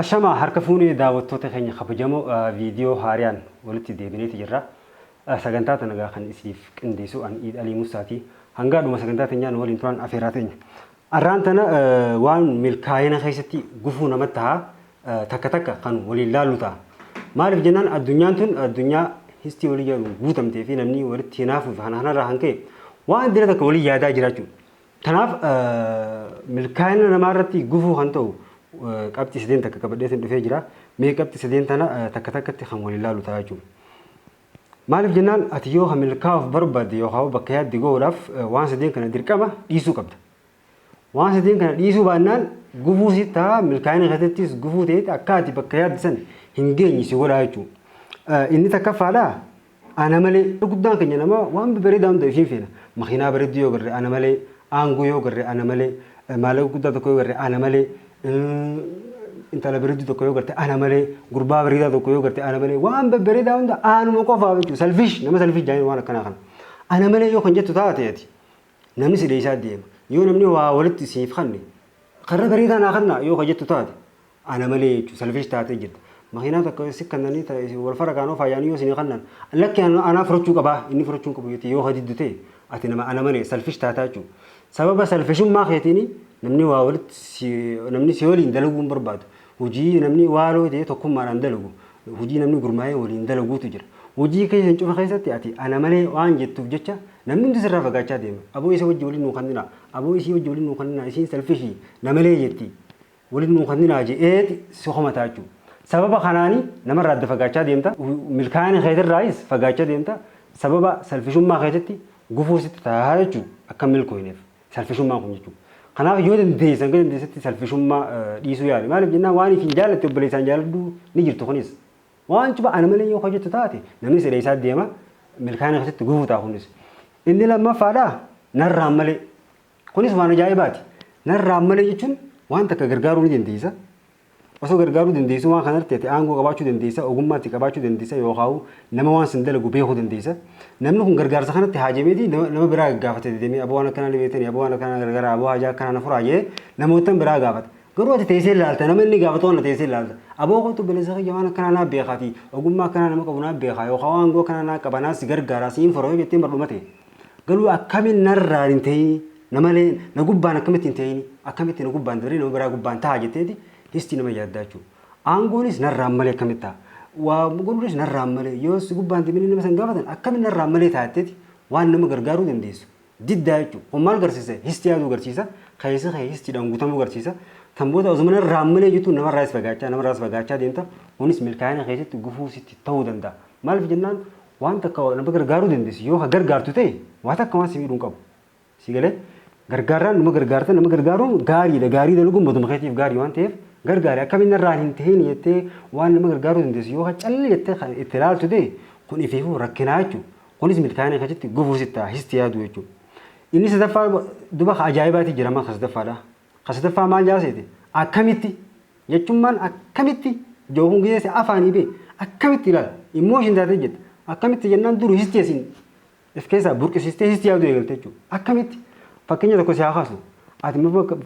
Ashamaa harka fuunee daawwattoota keenya kabajamoo viidiyoo haariyaan walitti deebineeti jirra. Sagantaa tana egaa kan isiniif qindeessu an Iid Alii Musaati. Hangaa dhuma sagantaa teenyaa nu waliin turan afeerraa teenya. Arraan tana waan milkaa'ina keessatti gufuu nama taha takka takka kan waliin laallu taha. Maaliif jennaan addunyaan tun addunyaa histii walii jedhuun guutamtee fi namni walitti hinaafuu fi kana kanarraa kan ka'e waan dila takka walii yaadaa jiraachuu. Tanaaf milkaa'ina namaa irratti gufuu kan ta'u qabxii sadeen takka qabadheetiin dhufee jira. Mee qabxii sadeen tana takka takkatti kan waliin laallu taha jechuudha. Maaliif jennaan ati yoo ka milkaa'uuf barbaadde yookaan bakka yaadde ga'uudhaaf waan sadeen kana dirqama dhiisuu qabda. Waan sadeen kana dhiisuu baannaan gufuu si ta'a milkaa'ina keessattis gufuu ta'eeti akka ati bakka yaadde san hin geenye si godhaa jechuudha. Inni takkaffaadha ana malee guddaan keenya nama waan bareedaa hunda ishiin feena. Makiinaa bareedduu yoo garre ana malee aangoo yoo garre ana malee maallaqa guddaa tokko yoo garre ana malee intala bareedduu tokko yoo garte ana malee gurbaa bareedaa tokko yoo garte ana malee waan babbareedaa hunda anuma qofaaf jechuudha salfish nama salfish jaanii waan akkanaa kana ana malee yoo kan jettu taate ati namni si dheessaa deema yoo namni waa walitti siif kanne karra bareedaa naa kanna yoo kan jettu taate ana malee jechuudha salfish taatee jirta makiinaa tokko si kannanii wal fara kaanoo faayanii yoo sinii kannan lakki anaa furachuu qabaa inni furachuu qabu yoo hadiddutee ati nama ana malee salfish taataa jechuudha Sababa salfishummaa keetiin namni waa walitti si, namni si waliin dalaguu hin barbaadu. Hojii namni waaloo ta'ee tokkummaadhaan dalagu, hojii namni gurmaa'ee waliin dalaguutu jira. Hojii keessan cufa keessatti ati ana malee waan jettuuf jecha namni hundi sirraa fagaachaa deema. Aboo isa wajji waliin nuu kanninaa, aboo isii wajji waliin nuu kanninaa, isiin salfishii, na malee jetti. Walitti nuu kanninaa je'eeti si komataa jechuudha. Sababa kanaani namarraa adda fagaachaa deemta, milkaa'ina keetirraayis fagaachaa deemta, sababa salfishummaa keetitti gufuu sitti taha jechuudha akka hin milkooyneef salfishummaan kun jechuudha. Kanaaf yoo dandeesse hanga dandeessetti salfishummaa dhiisuu yaali. Maaliif jennaan waan ifiin jaallatte obboleessaan jaalladhu ni jirtu kunis. Waan cufa ana malee yoo hojjettu taate namni si dheessaa deema milkaa'ina keetitti gufuu taha kunis. Inni lammaffaadha narraan malee Kunis waan ajaa'ibaati. Narraan malee jechuun waan takka gargaaruu ni dandeessa. Osoo gargaaruu dandeessu waan kanarratti ati aangoo qabaachuu dandeessa, ogummaa itti qabaachuu dandeessa yookaan nama waan sin dalagu beekuu dandeessa. Namni kun gargaarsa kanatti haajameeti nama biraa gaafate deddeemee aboo waan akkanaa ni beektanii, aboo waan akkanaa gargaaraa, aboo haajaa akkanaa na furaa jedhee namoottan biraa gaafata. Garuu ati teessee ilaalta nama inni gaafatu kana teessee ilaalta. Aboo kootu obboleessa kiyya waan akkanaa naa beekaatii ogummaa akkanaa nama qabu naa beekaa yookaan waan aangoo akkanaa naa qaba naa si gargaaraa siin fura yoo jettee mardhuma ta'e. Garuu akkamiin narraan hin ta'ini? Namalee na gubbaan akkamitti hin ta'ini? Akkamitti na gubbaan dabaree nama biraa gubbaan ta'a jetteeti histii nama yaaddaa jechuudha. Aangoonis narraan malee akkamitti ta'a? Waa godhuunis narraan malee yoo si gubbaan deemanii nama san gaafatan akkamiin narraan malee taatteeti waan nama gargaaruu dandeessu diddaa jechuudha. Kun maal garsiisa? Histii yaaduu garsiisa. Keessi kee histiidhaan guutamuu garsiisa. Tan booda osuma narraan malee jettu namarraas fagaachaa namarraas fagaachaa deemta. Kunis milkaa'ina keessatti gufuu sitti ta'uu danda'a. Maaliif jennaan Waan takka nama gargaaruu dandeessi yoo ka gargaartu ta'e waa takka waan si miidhu hin qabu. Si galee gargaarraan nama gargaarta nama gargaaruun gaariidha gaarii dalaguun matuma keetiif gaarii waan ta'eef gargaari akkamiin narraan hin ta'in jettee waan nama gargaaruu dandeessi yoo ka calli jettee kan itti ilaaltu ta'e kun ifiifuu rakkinaa jechuudha. Kunis milkaa'ina keessatti gufuu sitti ta'a sitti yaadu jechuudha. Inni sadaffaa duba ka ajaa'ibaati jirama ka sadaffaadha. Ka sadaffaa maal jaa seete? Akkamitti? Jechummaan akkamitti jookuun gisee si afaanii bee akkamitti ilaala? Emotion taatee jette. Akkamitti jennaan dur histii asiin if keessaa burqisiistee histii yaaduu eegalte jechuudha. Akkamitti? Fakkeenya tokko si haa kaasnu. Ati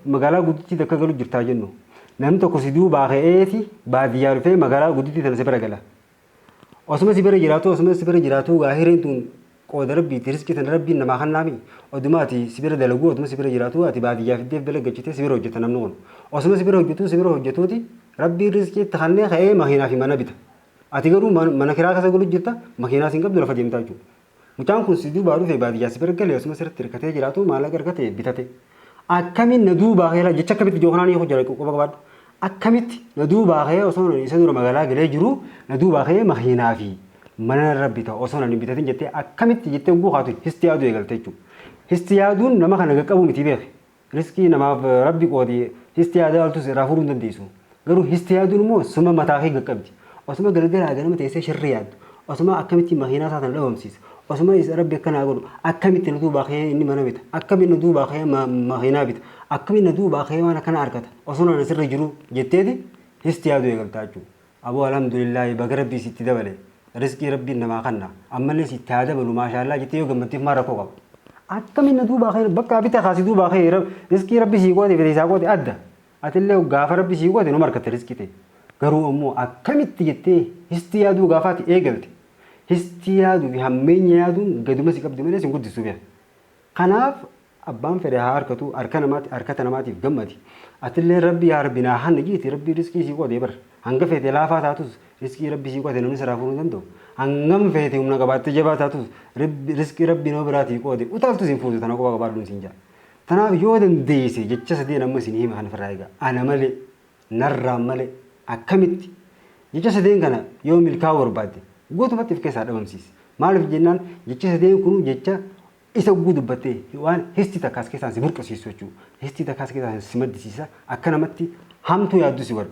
magaalaa guddittii takka galu jirtaa jennu. Namni tokko si duubaa ka'eeti baadiyyaa dhufee magaalaa guddittii tana si bira gala. Osuma si bira jiraatuu osuma si bira jiraatuu gaa hireen tun qooda rabbiiti riski tana rabbiin namaa kannaami oduma ati si bira dalaguu oduma si bira jiraatuu ati baadiyyaa fiddeef dalaggachitee si bira hojjeta namni kun osuma si bira hojjetuu si bira hojjetuuti rabbiin riskii itti kannee ka'ee makiinaa fi mana bita ati garuu mana kiraa kasa galu jirta makiinaa siin qabdu lafa deemtaa jechuudha Mucaan kun si duubaa dhufee baadiyyaa si bira galee osuma sirratti hirkatee jiraatu maallaqa argate bitate. Akkamiin na duubaa kee jecha akkamitti ijoo kanaan hiikuu jira qofa qabaadhu. Akkamitti na duubaa kee osoo isa dura magaalaa galee jiru na duubaa kee makiinaa fi mana narra bita osoo nan hin bitatin jettee akkamitti jettee oguu kaatu histi yaaduu eegalte jechuudha. Histi yaaduun nama kana qaqqabu miti beeki. Riskii namaaf rabbi qoode histi yaada yaaltus irraa furuu hin dandeessu. Garuu histi yaaduun immoo suma mataa kee gaqqabdi. Osuma galgalaa ganama teessee sharri yaaddu, osuma akkamitti makiinaa isaa tana dhabamsiisa, osuma is rabbi akka naa godhu, akkamitti na duubaa ka'ee inni mana bita, akkamitti na duubaa ka'ee ma- makiinaa bita, akkamitti na duubaa ka'ee waan akkana argata, osoo na sirra jiruu jetteeti histi yaaduu eegaltaa jechuudha. Aboo alhamdulillah baga rabbii sitti dabale risqii rabbiin namaa kanna ammallee sitti haa dabalu maashaallaah jettee yoo gammaddeef maal rakkoo qaba akkamiin na duubaa kee bakka abita kaa si duubaa kee risqii rabbi sii qoode fedhe isaa qoode adda atillee gaafa rabbi sii qoode numa argatta risqii ta'e garuu ammoo akkamitti jettee histi yaaduu gaafaati eegalte histi yaaduu fi hammeenya yaaduun gaduma si qabdi malee sin guddistu bee kanaaf Abbaan fedhe haa arkatu arka namati arkata namatiif gammadi atilleen rabbi yaa rabbi naa hanni jiiti rabbi risqii sii qode bar hanga feete laafaa taatus risqii rabbi sii qote namni siraa fudhu hin danda'u hangam feete humna qabaatte jabaa taatus rabbi risqii rabbi nama biraatii qoode utaaltus hin fuutu tana quba qabaadhuun siin jaa tanaaf yoo dandeeyse jecha sadeen amma isin hima kan ofirraa egaa ana malee narraan malee akkamitti jecha sadeen kana yoo milkaa'uu barbaadde guutumatti of keessaa dhabamsiisi maaliif jennaan jecha sadeen kun jecha Isa hogguu dubbatte waan histi takka as keessaan si burqisiistu jechuudha. Histi takka as keessaan si maddisiisa. Akka namatti hamtuu yaadduu si godha.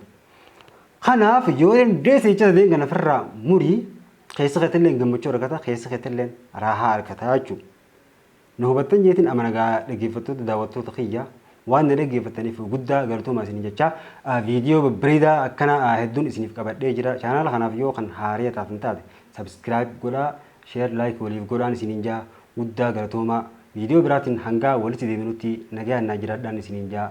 Kanaaf yoo dandeesse jecha sadeen kana ofirraa murii keessa keetilleen gammachuu argata keessa keetilleen raahaa argata jechuudha. Na hubattan jeetiin amana gaa dhaggeeffattoota daawwattoota kiyya Waan na dhaggeeffattaniif guddaa galatoomaa isiniin jechaa viidiyoo babbareedaa akkana hedduun isiniif qabadhee jira. Chaanaala kanaaf yoo kan haaraya taatan taate subscribe godhaa, share, like waliif godhaan isiniin jaa guddaa galatoomaa. Viidiyoo biraatiin hangaa walitti deebinutti nagayaan naa jiraadhaan isiniin jaa.